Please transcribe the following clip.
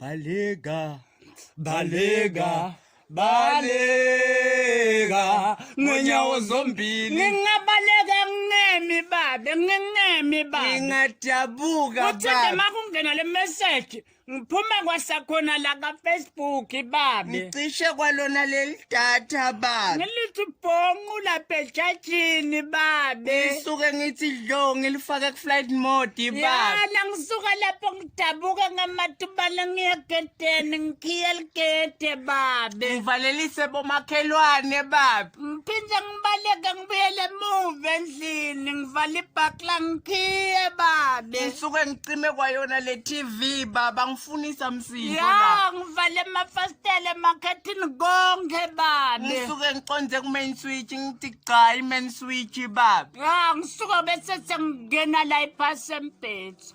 Balega, balega, balega ngonyawo zombili ngingabaleka ngingemi babe ngingemi babe ngingadabuka uthi nje makungena le message ngiphuma kwasakhona la ka Facebook babe ngicishe kwalona leli data babe ngilithi bonqu la pejajini babe ngisuke ngithi dlo ngilifake ku flight mode babe yala ngisuka lapho Dabuka ngamatubala ngiyagedeni ngikhiya ligede babe. Ngivalelise bomakhelwane babe. Ngiphinde ngibaleke ngibuyele emuva endlini ngivala ibhakla ngikhiye babe. Ngisuke ngicime kwayona le TV baba ngifunisa msindo Ya la. ngivale amafasitela emakhethini konke babe. Ngisuke ngiconze ku main switch ngithi cha i main switch babe. Ya ngisuka bese sengingena la ibhasi embhethu.